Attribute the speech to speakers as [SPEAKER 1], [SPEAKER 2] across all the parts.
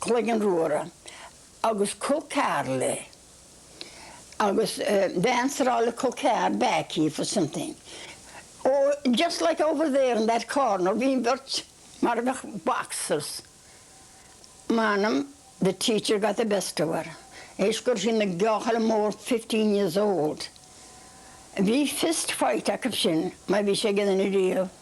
[SPEAKER 1] cloigeann ruadhra agus cu cear le agus bean eile le cu cear back here for something ó just like over there in that corner bhí an bheirt mar a bheadh boxers m'anam the teacher got the best of her théis gurb í an gearrchaile mór fifteen years old bhí fist fight acu sin mar bhí sé againn riamh.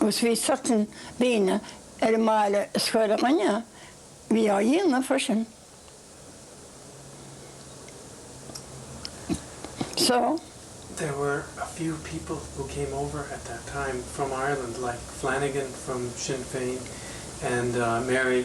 [SPEAKER 1] agus bhí certain daoine ar an mbaile is chuile dhuine a bhí á dhéanamh freisin so. there
[SPEAKER 2] were a few people who came over at that time from Ireland like Flanagan from Sinn Féin and Mary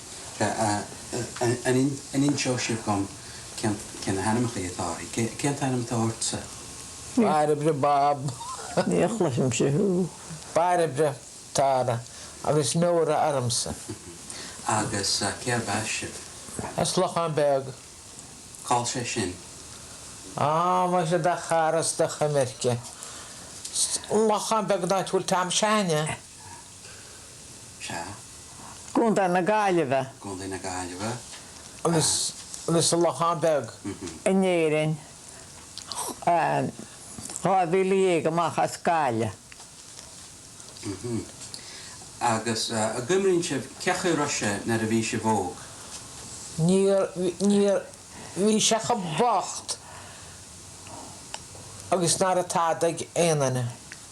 [SPEAKER 3] An inseoidh sibh dhom cé na hainmneachaí atá orthu? Cén t-ainm atá ortsa? Bairbre
[SPEAKER 4] Bob. Ní chloisim
[SPEAKER 1] thú. Bairbre
[SPEAKER 4] Tara agus Nóra ormsa.
[SPEAKER 3] Agus cérb as sibh? As
[SPEAKER 4] Lochán Beag.
[SPEAKER 3] Cá'l sé sin? Á,
[SPEAKER 4] muise do chara 's do choimirce, Lochán Beag an áit a bhfuil Tom Sheáin.
[SPEAKER 5] Sea. gContae na Gaillimhe. gContae na
[SPEAKER 3] Gaillimhe.
[SPEAKER 4] agus sa Lochán Beag. in Éirinn
[SPEAKER 5] dhá mhíle dhéag amach as Gaillimh.
[SPEAKER 3] Agus a gcuimríonn sibh cé chaoi a raibh sé nuair a bhí sibh óg?
[SPEAKER 4] Níor, bhí sé cho bocht agus nach raibh tada ag aon duine.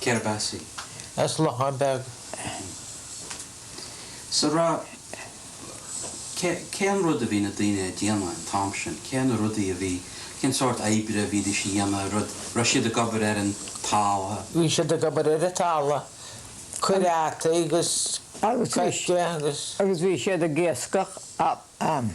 [SPEAKER 4] Cérb
[SPEAKER 3] as í.
[SPEAKER 4] as Lochán
[SPEAKER 3] Beag. S a ra, Cén rud a bhí na daoine a' déanamh an t-am sin? Cé na rudaí a bhí, cén sórt oibre a bhídís a dhéanamh, rud, raibh siad ag obair ar an tala? Bhí siad ag
[SPEAKER 4] obair ar an tala, cur fhataí 'gus coirce 'gus. Agus bhí siad ag
[SPEAKER 5] iascach ann.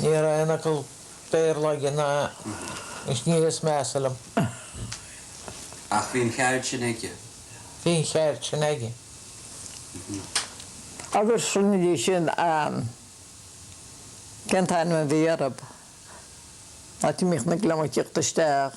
[SPEAKER 4] Ní raibh aon fhocal Béarla aige ná níos measa liom.
[SPEAKER 3] Ach bhí an cheird
[SPEAKER 4] sin
[SPEAKER 5] aige. Bhí an cheird sin aige. Agus ansin cén t-ainm a bhí ar an áit a mbíodh na gliomaigh ag tíocht isteach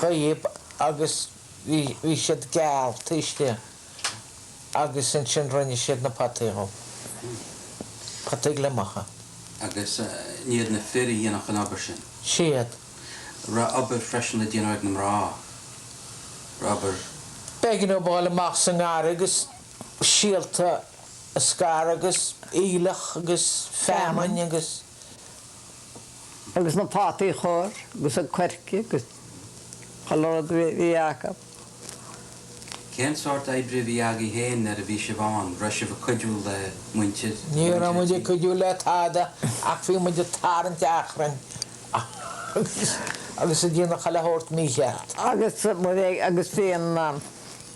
[SPEAKER 4] Chaob agus bhí, bhí siad geal, taiscthe agus ansin rinne siad na potaí dhom, potaí gliomach. Agus
[SPEAKER 3] ní hiad na fir a dhéanfadh an obair sin?
[SPEAKER 4] Siad.
[SPEAKER 3] raibh obair freisin le déanamh ag na mná, raibh obair. B'éigean dóibh a
[SPEAKER 4] ghabháil amach sa ngarraí agus síolta a scaradh agus aoileach agus feamainn agus.
[SPEAKER 5] agus na fataí a chur agus an coirce agus chuile rud a bhí acu.
[SPEAKER 3] Cén sórt oibre a bhí agaibh fhéin nuair a bhí sibh ann, raibh sibh ag cuidiú le muintir tí? Ní raibh muid
[SPEAKER 4] ag cuidiú le tada ach bhí muid ag tarraingt achrainn agus ag déanamh chuile shórt mícheart.
[SPEAKER 5] Agus bhí an.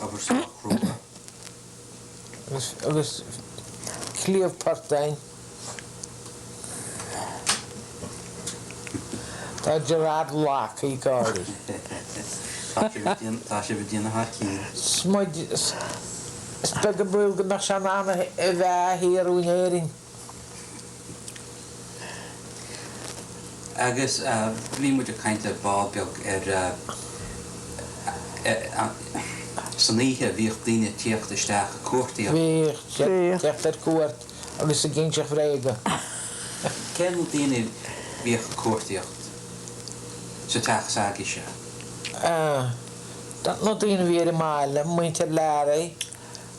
[SPEAKER 3] Abair sách crua.
[SPEAKER 4] Agus cliabh portáin. Tá Gerard Locke ag gáirí.
[SPEAKER 3] Tá sibh ag déanamh thar cionn. Smid.
[SPEAKER 4] Is beag an baol go mbeadh sé in ann a bheith thiar in Éirinn.
[SPEAKER 3] Agus bhí muid ag caint ar ball beag ar san oíche, bhíodh daoine ag tíocht isteach ag cuartaíocht. Bhíodh
[SPEAKER 4] teacht ar cuairt agus ag inseacht
[SPEAKER 3] bréaga. Cé na daoine a bhíodh ag cuartaíocht sa teach s'agaibhse?
[SPEAKER 4] Na daoine a bhí ar an mbaile, muintir Learaí.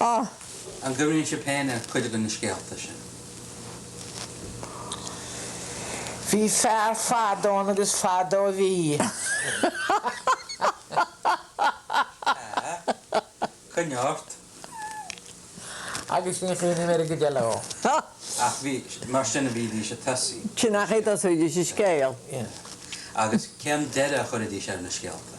[SPEAKER 3] Ah! An gcuimhníonn sibh féin ar chuid de na scéalta
[SPEAKER 4] sin? Bhí fear fadó ann agus fadó a bhí. Sea.
[SPEAKER 3] Coinnigh
[SPEAKER 4] ort. Agus ní chuimhním air go deo leo. Ach
[SPEAKER 3] bhí, mar sin a bhídís ag tosaí. Sin an chaoi a
[SPEAKER 5] dtosóidís an scéal. Agus
[SPEAKER 3] cén deireadh a chuirfidís ar na scéalta?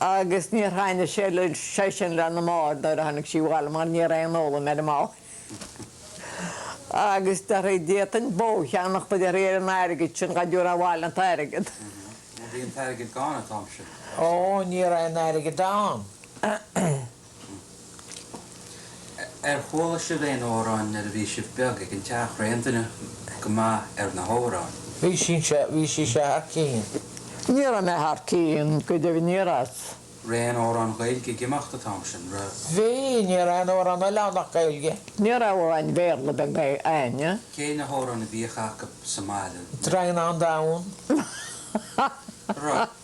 [SPEAKER 5] agus níor thaitnigh sé léise sin, le Mam nuair a tháinig sí abhaile mar ní raibh aon fhoghlaim ar Mham agus déarfadh d'fhéadfainn bó a cheannacht, a déarfadh, ar an airgead sin dhá dtabharfá abhaile an t-airgead. Bhí
[SPEAKER 3] an t-airgead gann an t-am sin. Ó, ní
[SPEAKER 4] raibh aon airgead ann.
[SPEAKER 3] Ar chuala sibh aon amhráin nuair a bhí sibh beag ag an teach? Raibh aon duine go maith ar na hamhráin? Bhí sise,
[SPEAKER 4] bhí sise thar cionn. Ní raibh mé
[SPEAKER 5] thar cionn, go deimhin ní raibh. Raibh aon
[SPEAKER 3] amhráin Ghaeilge ag imeacht an t-am sin? Raibh. Bhí, ní
[SPEAKER 4] raibh aon amhrán eile ann ach Gaeilge. Ní raibh
[SPEAKER 5] amhráin Bhéarla beag ná ann. Cé na hamhráin a
[SPEAKER 3] bhíodh acu sa mbaile? Draighneán Donn. Raibh.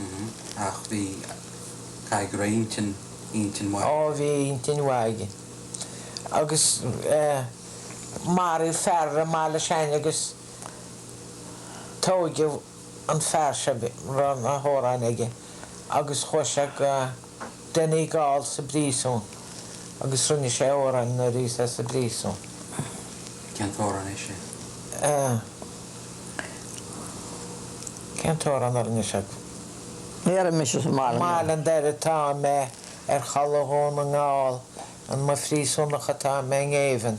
[SPEAKER 3] Mm-hmm. Ach bhí, caithfidh go raibh intinn, intinn mhaith. Ó, bhí intinn
[SPEAKER 4] mhaith aige. Agus eh, maraíodh fear i mBaile Sheáin agus tóigeadh an fear seo, raibh na hamhráin aige agus chuaigh sé go, Duine ag gabháil sa bpríosún agus rinne sé amhrán nuair bhí sé sa bpríosún. Ahh. Cén t-amhrán é
[SPEAKER 3] sin? Ahh.
[SPEAKER 4] Cén t-amhrán a rinne sé?
[SPEAKER 5] Bhéarfaidh mise sa mbaile mé. I mBaile an Doire
[SPEAKER 4] atá mé, ar chaladh Dhún na nGall, i mo phríosúnach atá mé i ngéibheann.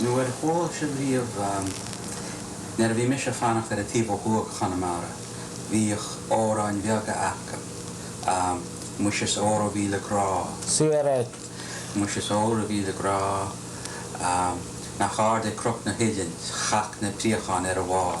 [SPEAKER 3] nó ar chuala sibh riamh, nuair a bhí mise ag fanacht ar an taobh ó thuaidh de Chonamara, bhíodh amhráin bheaga acu, Muise is óra mhíle grá. Siar
[SPEAKER 4] é! Muise
[SPEAKER 3] is óra mhíle grá, nach ard é cnoc na huillinne, chac na préacháin ar a bharr.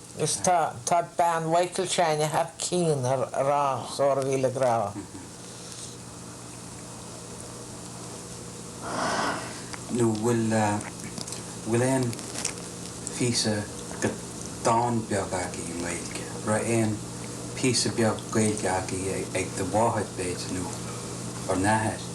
[SPEAKER 5] Is tá,
[SPEAKER 4] tá bean Mhichael Shane thar cinn ar rá 's óra mhíle
[SPEAKER 3] grá. Nó bhfuil, bhfuil aon phíosa de dhán beag agaibh i nGaeilge? raibh aon phíosa beag Gaeilge agaibh ag do mháthair, b'fhéidir, nó bhur n-athair?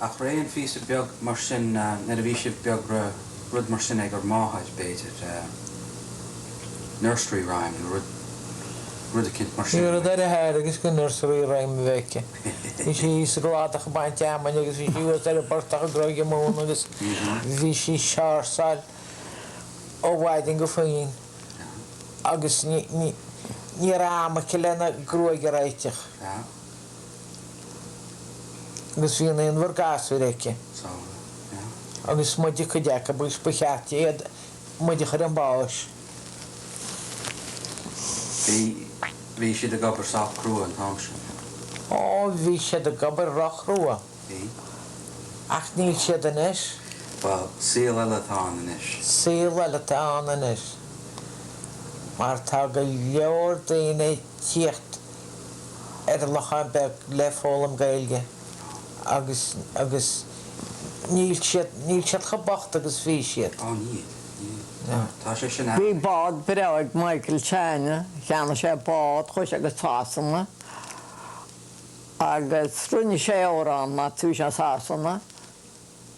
[SPEAKER 5] Ach raibh
[SPEAKER 3] aon phíosa beag mar sin nuair a bhí sibh beag, raibh rud mar sin ag bhur máthair, b'fhéidir, nursery rhyme nó rud, rud eicínt mar sin? Bhí rud ar a haire seachas
[SPEAKER 4] nursery rhyme a bheith aici. Bhí sí sa gcladach ag baint fheamainne agus bhí sí thuas ar an bportach ag gróigeadh móna agus bhí sí ag séirseáil ó mhaidin go faoithin agus ní, ní, ní raibh am aici lena gruaig a réiteach. agus bhí naonúr gasúr aici agus is muide cuid acu agus ba cheart di iad muid a chur chun báis. Bhí, bhí
[SPEAKER 3] siad ag obair sách crua an t-am sin.
[SPEAKER 4] Ó, bhí siad ag obair róchrua.
[SPEAKER 3] Bhí.
[SPEAKER 4] Ach níl siad anois. Bhuel,
[SPEAKER 3] saol eile atá ann anois. Saol eile atá
[SPEAKER 4] ann anois. Mar tá go leor daoine ag tíocht. ar Leac an Bheag le foghlaim Gaeilge agus agus níl siad níl siad chomh bocht agus a bhí siad. Ó níl, níl. Tá,
[SPEAKER 3] tá sé sin Bhí ann. bád
[SPEAKER 5] breá ag Michael Shane, cheannaigh sé bád, chuaigh sé go Sasana agus rinne sé amhrán nuair a chuaigh sé go Sasana.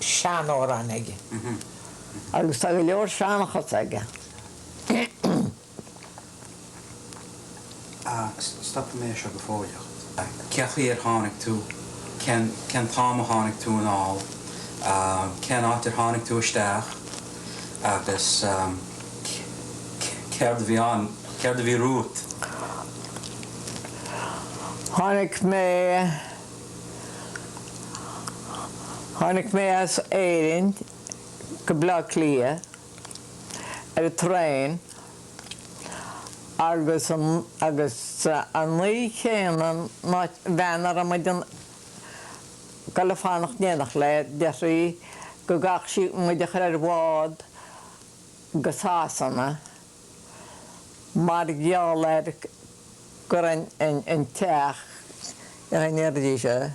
[SPEAKER 4] seanamhráin aige
[SPEAKER 5] agus tá go leor seanchas
[SPEAKER 3] aige. a Stopfaidh mé é seo go fóilleach. Cén chaoi ar tháinig tú? Cén t-am a tháinig tú anall? Cén áit ar tháinig tú isteach? agus Céard a bhí ann? Céard a bhí romhat? Tháinig
[SPEAKER 5] mé. Tháinig mé as Éirinn go Bleá Cliath ar an traein agus agus an oíche chéanna an bhean a raibh muid ag dul ag fanacht in éineacht léi deir sí go gcaithfeadh sí muid a chur ar bhád go Sasana. mar gheall ar gur an teach a deir sise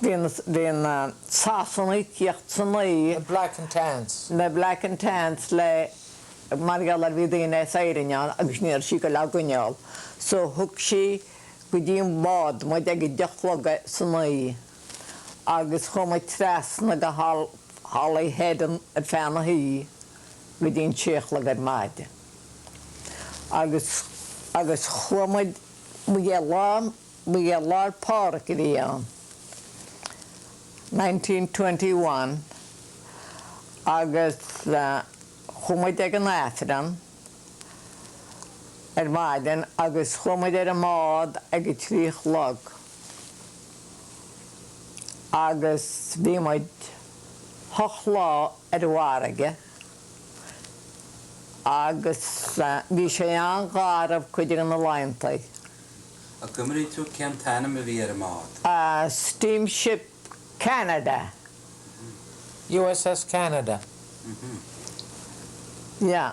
[SPEAKER 5] bhí na Sasanaigh ag tíocht san oíche na Black and
[SPEAKER 4] Tans na Black and
[SPEAKER 5] Tans le mar gheall ar bhí daoine as Éirinn ann agus ní raibh sí ag dul á gcoinneáil so thug sí go dtí an bád muid ag a deich a chlog san oíche. agus chuaigh muid trasna go Holyhead ar feadh na hoíche go dtí an trí a chlog ar maidin. Agus agus chuaigh muid, ba é lá ba é Lá Fhéile Pádraig a bhí ann, 1921, agus chuaigh muid ag an Aifreann ar maidin agus chuaigh muid ar an mbád ag a trí a chlog. agus bhí muid ocht lá ar an bhfarraige agus bhí sé an-gharbh cuid de na laeantaí. An
[SPEAKER 3] gcuimríonn tú cén t-ainm a bhí ar an mbád?
[SPEAKER 5] Steamship Canada.
[SPEAKER 4] USS Canada.
[SPEAKER 5] Yeah.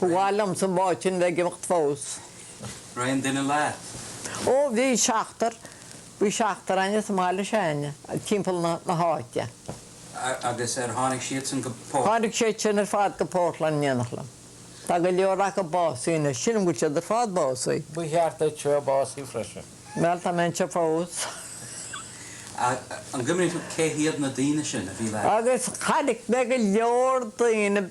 [SPEAKER 5] Ba mhaith liomsa an bád sin bheith ag imeacht fós. Raibh aon
[SPEAKER 3] duine leat? Ó,
[SPEAKER 5] bhí seachtar, bhí seachtar againn as an mbaile s'againne timpeall na háite. Agus
[SPEAKER 3] ar tháinig siadsan go Port. Tháinig siad sin ar fad
[SPEAKER 5] go Portland in éineacht liom. Tá go leor acu básaithe anois. Sílim go bhfuil siad ar fad básaithe. Ba cheart duitse
[SPEAKER 4] a bheith básaithe freisin. Bhuel, tá mé
[SPEAKER 5] anseo
[SPEAKER 3] fós. An gcuimríonn tú cé hiad na daoine sin a bhí leat? Agus chonaic mé
[SPEAKER 5] go leor daoine.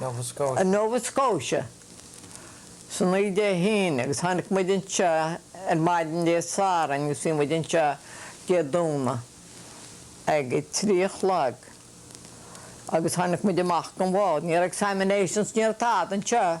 [SPEAKER 5] Nova Scotia, san oíche Dé hAoine agus tháinig muid anseo ar maidin Dé Sathairn agus bhí muid anseo Dé Domhnaigh ag a trí a chlog agus tháinig muid amach gan mhoill. Ní raibh examinations, ní raibh tada anseo.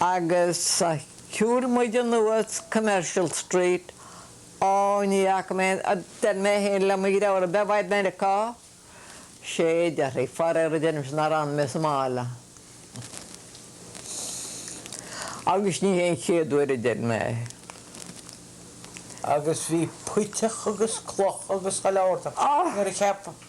[SPEAKER 5] agus shiúil muid anuas Commercial Street, ó ní fhaca mé a deir mé féin le mo dheirfiúr, ab é seo Meiriceá, sé a deir sí, faraor a deirimse nár fhan mé sa mbaile. Agus ní hé an chéad uair a deir mé
[SPEAKER 4] é. Agus bhí puiteach agus cloch agus chuile shórt ann, nuair a cheap.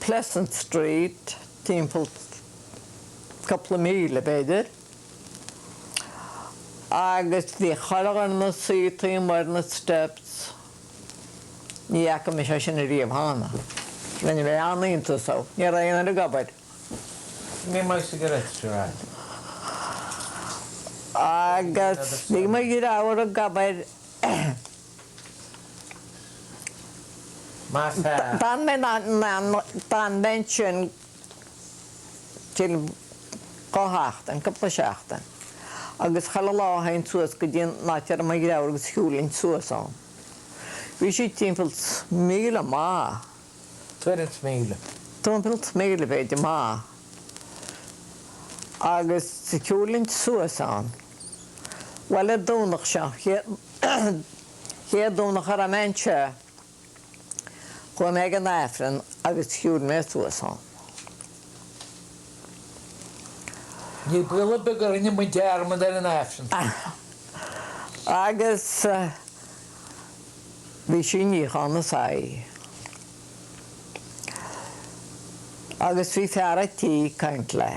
[SPEAKER 5] Pleasant Street, timpeall cupla míle b'fhéidir, agus bhí chuile fhear ann suite amuigh ar na steps, ní fhaca mise é sin ariamh cheana. Rinne mé an-iontas dhó, ní raibh aon fhear ag
[SPEAKER 4] obair. Ní
[SPEAKER 5] maith cigarettes seo a fháil. Agus bhí mo dhreabhar ag obair D'fhan mé ansin timpeall dhá sheachtain, cúpla seachtain, agus chuile lá théinn suas go dtí an áit a raibh mo dhreabhar agus shiúlfainn suas ann. Bhí sí timpeall 's míle amach. Tuairim
[SPEAKER 4] 's míle. Tuairim 's míle,
[SPEAKER 5] b'fhéidir, amach. Agus shiúlfainn suas ann. Bhuel, an Domhnach seo, chéad Domhnach a raibh mé anseo, chuaigh mé ag an Aifreann agus shiúil mé suas ann.
[SPEAKER 4] Ní baol ar bith gur rinne muid dearmad ar an
[SPEAKER 5] Aifreann. Agus bhí sí ag níochán na soithí. Agus bhí fear a' tí ag caint léi.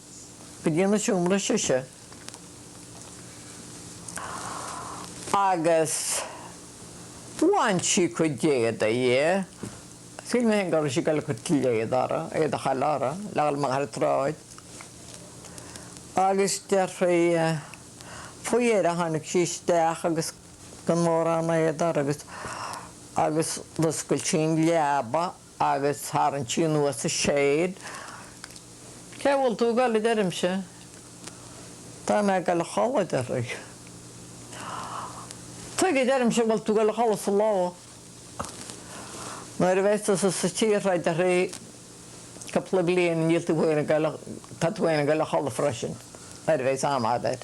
[SPEAKER 5] go dtí an seomra sise agus bhain sí cuid d'éadaí dhi. Shíl mé féin go raibh sí ag dul ag cur tuilleadh uirthi, éadach eile uirthi le dhul amach ar an tsráid. Agus déarfaí, faoi dheireadh tháinig sí isteach agus gan mórán éadaigh uirthi agus d'oscail sí an leaba, agus tharraing sí anuas an shade. Cé bhfuil tú ag goil a deirimse. Tá mé ag goil a chodladh a deir sí. Tuige a deirimse an bhfuil tú ag goil a chodladh sa ló nuair a bheas tusa sa tír seo a deir sí cúpla bliain níl tú féin ag goil a, tá tú féin ag goil a chodladh freisin nuair a bheas am agat.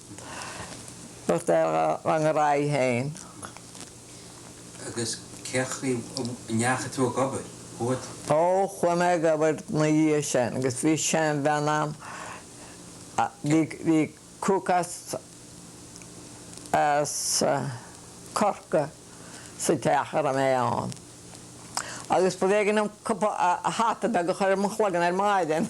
[SPEAKER 5] Dúirt ar rang ar aghaidh féin. Agus cén chaoi
[SPEAKER 3] a ndeachaigh tú ag obair? What. Ó, chuaigh mé
[SPEAKER 5] ag obair ina dhiaidh sin agus bhí seanbhean ann a, bhí, bhí cook as, as Corcaigh sa teach a raibh mé ann. Agus b'éigean dhom cupa hata beag a chur ar mo chloigeann ar maidin.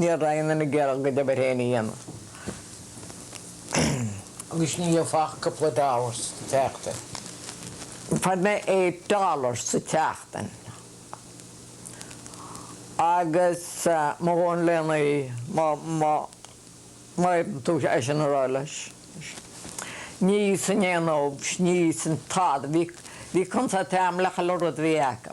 [SPEAKER 5] Ní raibh siad in ann a gcuid oibre féin a
[SPEAKER 4] dhéanamh. Agus ní bhfaighfeá ach cúpla dollar sa tseachtain.
[SPEAKER 5] Fuair mé eight dollars sa tseachtain. Agus mo dhóthain le n-ithe, má, má, má fhéadann tú é sin a rá leis. Ní san aon fhocs, ní san tada. Bhí, bhí consairtín ann le chuile rud a bhí acu.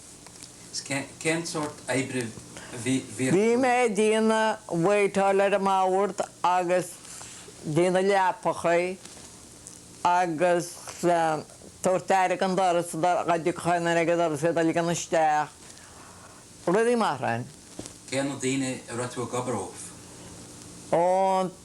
[SPEAKER 3] Cén sórt oibre a bhí acu?
[SPEAKER 5] Bhí mé ag déanamh waiteáil ar an mbord agus déanamh leapacha agus tabhairt aire don doras dá dtiocfadh duine ag an doras iad a ligean isteach, rudaí mar sin. Cé na daoine
[SPEAKER 3] a raibh tú ag obair dóibh? Ó,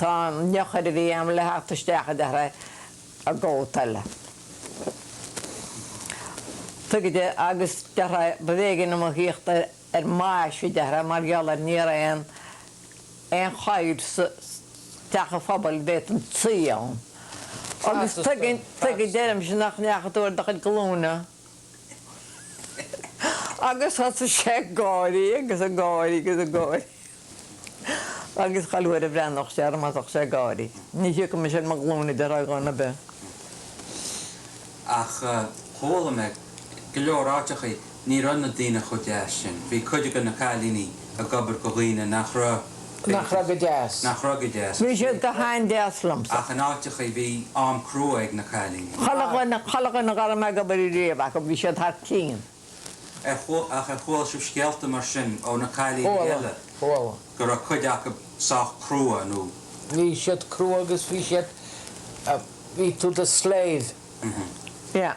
[SPEAKER 5] Tá an eochair a bhí a'm le theacht isteach a deir é, i gcóta eile. Tuige? Agus deir é, b'éigean dom a thíocht ar m'ais, a deir é, mar gheall ar ní raibh aon aon chathaoir sa teach an phobail a bhféadfainn suí ann. Agus tuige a deirimse nach ndeachaigh tú ar do chuid glúine. Agus thosaigh sé ag gáirí agus ag gáirí agus ag gáirí agus chuile uair a bhreathnódh sé orm thosódh sé ag gáirí. Ní thiocfadh mise ar mo ghlúine le haghaidh dhuine ar
[SPEAKER 3] bith. Ach chuala mé go leor áiteachaí ní raibh na daoine chomh deas sin. Bhí cuid acu, na cailíní, ag obair do dhaoine nach raibh Nach raibh go
[SPEAKER 4] deas. Nach raibh go deas.
[SPEAKER 3] Bhí siad go
[SPEAKER 5] han-deas liomsa. Ach in áiteachaí
[SPEAKER 3] bhí am crua ag na cailíní. Chuile dhuine
[SPEAKER 5] dhá raibh mé ag obair riamh acu, bhí siad thar cinn. Ach
[SPEAKER 3] ar chuala sibh scéalta mar sin ó na cailíní eile? Chuala. Go
[SPEAKER 4] raibh cuid
[SPEAKER 3] acu sách crua nó? Bhí siad
[SPEAKER 4] crua agus bhí siad, bhí tú i do slave. Yeah.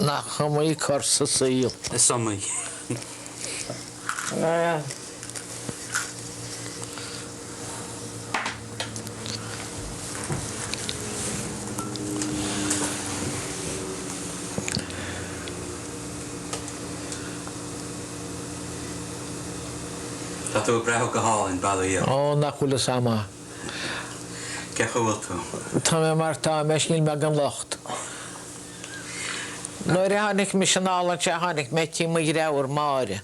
[SPEAKER 5] Nach
[SPEAKER 4] iomaí cor sa saol. Is
[SPEAKER 3] iomaí Tá tú ag breathnú go hálainn, bail ó Dhia ort. Ó, nach bhfuil fhios a'm. Cén chaoi a bhfuil tú? Tá mé mar tá
[SPEAKER 4] mé 's níl mé gan locht. Nuair a tháinig mise anall anseo tháinig mé tigh mo dheirfiúr Máire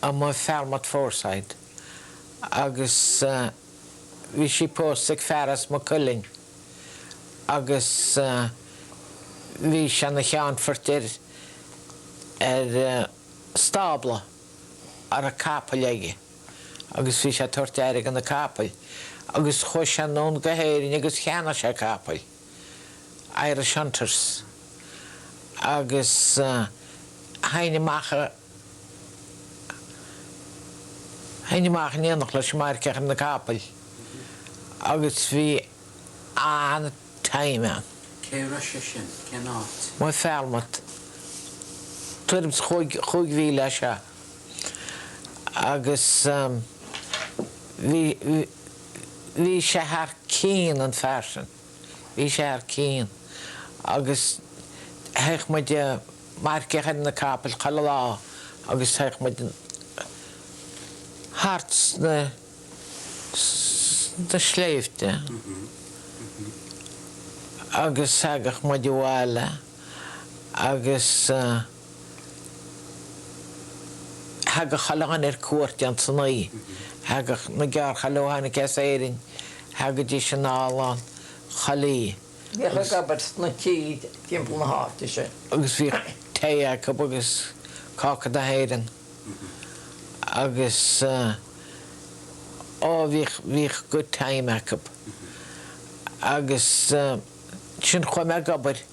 [SPEAKER 4] amuigh i Falmouth Foreside agus bhí sí pósta ag fear as Maigh Cuilinn agus bhí sé ina cheannfort ar, ar stábla a raibh capaill aige agus bhí sé ag tabhairt aire do na capaill agus chuaigh sé anonn go hÉirinn agus cheannaigh sé capaill. Irish Hunters, agus théinn amach, théinn amach in éineacht leis ag marcaíocht ar na capaill agus bhí an-time ann. Cé raibh sé sin?
[SPEAKER 3] Cén áit? Amuigh i
[SPEAKER 4] Falmouth. Tuairim is chúig, chúig mhíle as seo agus bhí, bhí, bhí sé thar cionn an fear sin, bhí sé thar cionn agus théadh muid ag marcaíocht ar na capaill chuile lá agus théadh muid thart sna sna sléibhte agus thagadh muid abhaile agus. Thagadh a lán ar cuairt on Sunday thagadh na gearrchailiú a tháinig as Éirinn, thagaidís ann a lán cailíní a
[SPEAKER 5] bhíodh
[SPEAKER 4] ag obair sna tithe timpeall na háite sin. agus bhíodh tae acu agus cáca na hÉireann agus á bhíodh, bhíodh good time acu agus ansin chuaigh mé ag obair,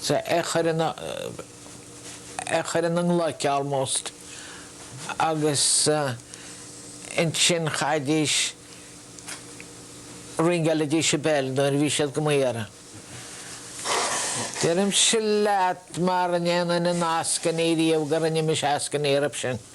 [SPEAKER 4] Sea, around the clock, almost, agus ansin chaithfidís, ringeálaidís an bell nuair a bhí siad do m'iarraidh. Deirimse leat mara ndéanainn aon eascainí riamh go rinne mise eascainí orthu.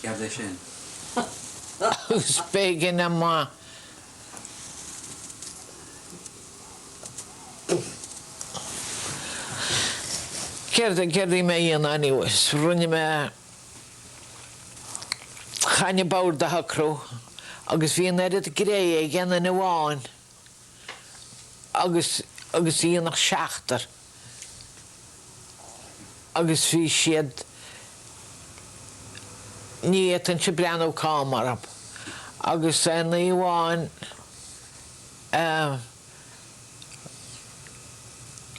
[SPEAKER 4] Céard é sin? Agus b'éigean dom a Céard a bhí mé a dhéanamh anyways? Rinne mé chaithinn an bord a shocrú agus bhí an oiread graithe ag aon duine amháin agus a dhéanfadh seachtar. agus bhí siad ní fhéadfainnse breathnú cam orthu agus aon oíche amháin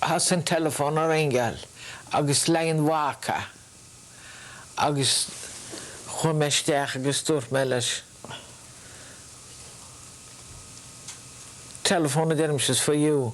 [SPEAKER 4] thosaigh an telephone ag ringeáil agus le haghaidh an mhac a agus chuaigh mé isteach agus dúirt mé leis telephone a deirimse is for you.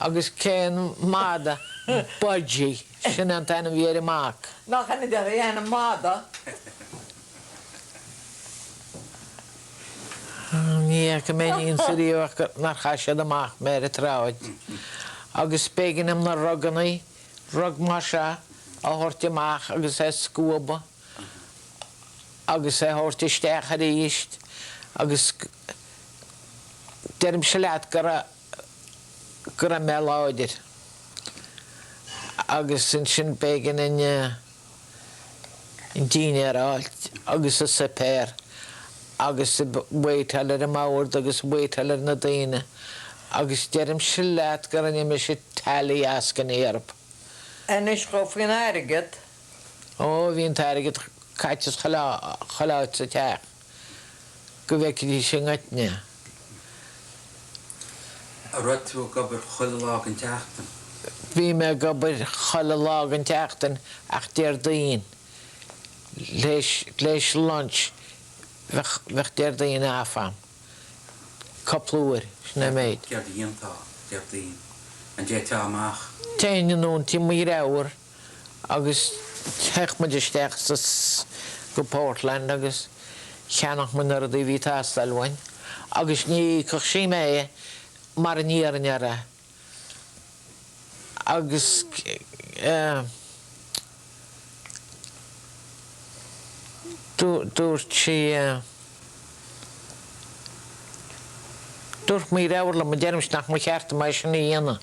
[SPEAKER 4] Agus cén madadh? Buddy. Sin é an t-ainm a bhí ar an mac. Nach ainm
[SPEAKER 5] deas é ainm
[SPEAKER 4] madadh? Ní fhaca mé in aon chor riamh nár chaith siad amach mé ar an tsráid. Agus b'éigean dom na rugannaí, rug mar seo, a thabhairt amach agus é a scuabadh agus é a thabhairt isteach arís agus deirimse leat go raibh, go raibh mé láidir agus ansin b'éigean an dinnéar a fháilt agus an suipéar agus ag waiteáil ar an mbord agus ag waiteáil ar na daoine agus deirimse leat go rinne mise tuilleadh eascainí orthu. Anois
[SPEAKER 5] gabh faoin airgead. Ó,
[SPEAKER 4] bhí an t-airgead caite chuile áit sa teach. go bhfeicfidís i gcoitinne.
[SPEAKER 3] An raibh tú ag obair chuile lá den tseachtain? Bhí mé ag
[SPEAKER 4] obair chuile lá den tseachtain ach Déardaoin tar éis lunch bheadh Déardaoin off a'm, cúpla uair, sin an méid. Céard
[SPEAKER 3] a dhéantá Déardaoin? An dtéiteá amach? Téinn anonn
[SPEAKER 4] tigh mo dhriofúr Agus théadh muid isteach sa go Portland agus cheannaíodh muid na rudaí a bhí teastáil uainn agus ní íocfadh sí mé mara n-iarrfainn uirthi agus dúirt sí dúirt mo dhriofúr liom, deirimse nach mba ceart dom é sin a dhéanamh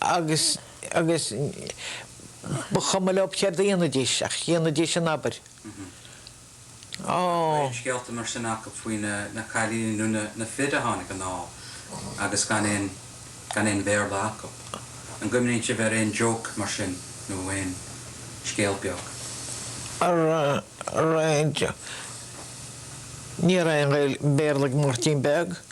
[SPEAKER 4] Agus, agus, ba chuma leo céard a dhéanfaidís, ach dhéanfaidís an obair.
[SPEAKER 3] Ó. Bíonn scéalta mar sin acu faoi na, na cailíní nó na, na fir a tháinig anall agus gan aon, gan aon Bhéarla acu. An gcuimhníonn sibh ar aon joke mar sin nó aon scéal beag?
[SPEAKER 4] Ar, ar aon, ní raibh aon Bhéarla ag Máirtín Beag.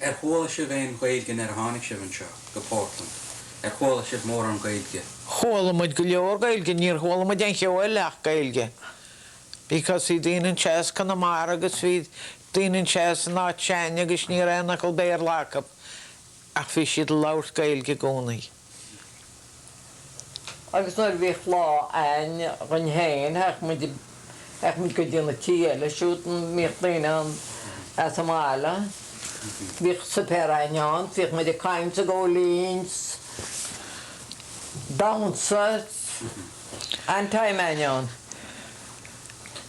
[SPEAKER 3] Ar chuala sibh aon Ghaeilge nuair a tháinig sibh anseo, go Portland? Ar chuala sibh mórán Gaeilge? Chuala muid go
[SPEAKER 4] leor Gaeilge, níor chuala muid aon cheo ach Gaeilge because bhí daoine anseo as Conamara agus bhí daoine anseo as an áit sin agus ní raibh aon fhocal Béarla acu ach bhí siad ag labhairt Gaeilge i gcónaí.
[SPEAKER 5] Agus nuair a bhíodh lá a'ainn dhúinn féin théadh muid, théadh muid go dtí na tithe eile siúd, bhíodh daoine ann as an mbaile, bhíodh suipéar a'ainn ann 's bhíodh muid ag caint 's ag ól linn 's damhsa, an-time a'ainn ann.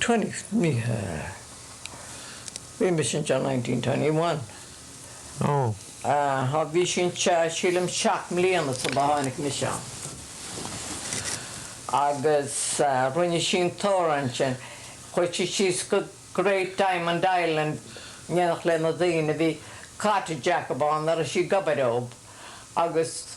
[SPEAKER 5] Twenty yeah. Bhí mise anseo nineteen twenty one. Oh. Bhí sí anseo sílim seacht mbliana sula dtháinig mise ann. Agus rinne sí an t-amhrán sin. Chuir sí síos go Great Diamond Island in éineacht le na daoine. Bhí cottage acub ann, a raibh sí ag obair dhóib agus.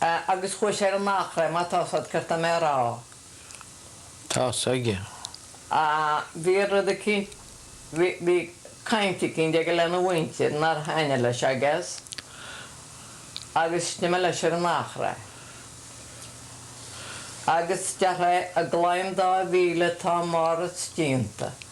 [SPEAKER 5] a agus chuaigh sé ar an Achréidh, má tá sé ceart, tá mé ag
[SPEAKER 4] rá. Tá a fhios aige. a
[SPEAKER 5] bhí rud eicínt, bhí, bhí caint eicínt aige lena mhuintir nár thaitnigh leis, I guess, agus d'imigh leis ar an Achréidh. Agus deartha é, an claí dá mhíle atá marab é déanta.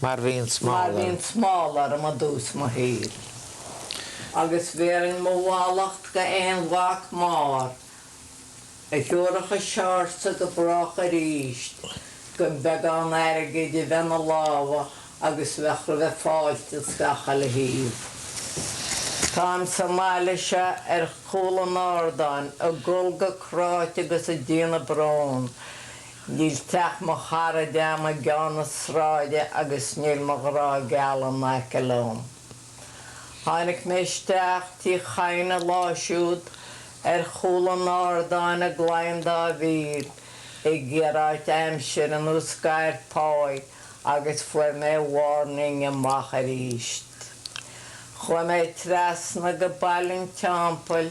[SPEAKER 4] mar bhíonn smál orm. Mar bhíonn
[SPEAKER 5] smál orm i dtús mo shaoil. Agus bhéarfainn mo mhallacht go aon mhac máthar a thiúrfadh an seársa go brách arís gan beagán airgid a bheith 'na lámha agus bheadh roimhe fáilte as gach uile thaobh. Táim sa mbaile seo ar chúl an ardáin ag gol go cráite agus ag déanamh bróin Níl teach mo charad agam i gceann na sráide agus níl mo ghrá geal in aice liom. Tháinig mé isteach Tí Chadhain an lá siúd ar chúl an ardáin i gClainn Dá Mhíl ag iarraidh aimsire nó scair páí agus fuair mé warning amach aríst. Chuaigh mé trasna go Baile an Teampaill,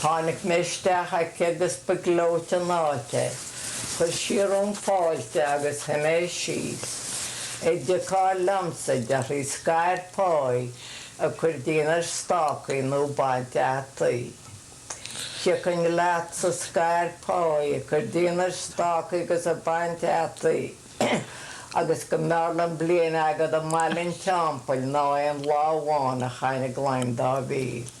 [SPEAKER 5] Tháinig mé isteach aici agus ba gleoite an áit é. Chuir sí orm fáilte agus shuigh mé síos. An dtiocfá liomsa, a deir sí, scair páí ag cur díon ar stácaí nó ag baint fhataí. Thiocfainn leatsa scair páí ag cur díon ar stácaí agus ag baint fhataí agus go mb'fhearr liom bliain agat i mBaile an Teampaill ná aon lá amháin a chaitheamh i gClainn Dá Mhíl.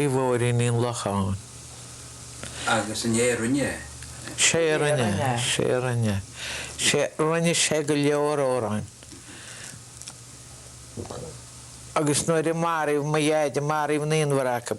[SPEAKER 4] faoi mhór-iníon Locháin. Agus an é a rinne é?
[SPEAKER 3] Sé a rinne
[SPEAKER 4] é, sé a rinne é. Sé, rinne sé go leor amhráin. Agus nuair a maraíodh mo dheaide, maraíodh naonbhar acu.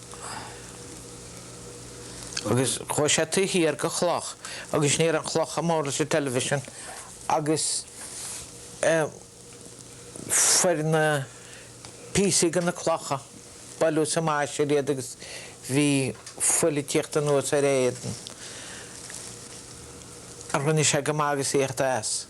[SPEAKER 4] Agus chuaidh sé taobh thiar de chloch agus ní raibh an chloch chomh mór leis an television agus fuair na píosaí de na clocha buaileadh sa mbaithis air iad agus bhí fuil ag tíocht anuas ar a éadan ach rinne sé go maith agus a thíocht as.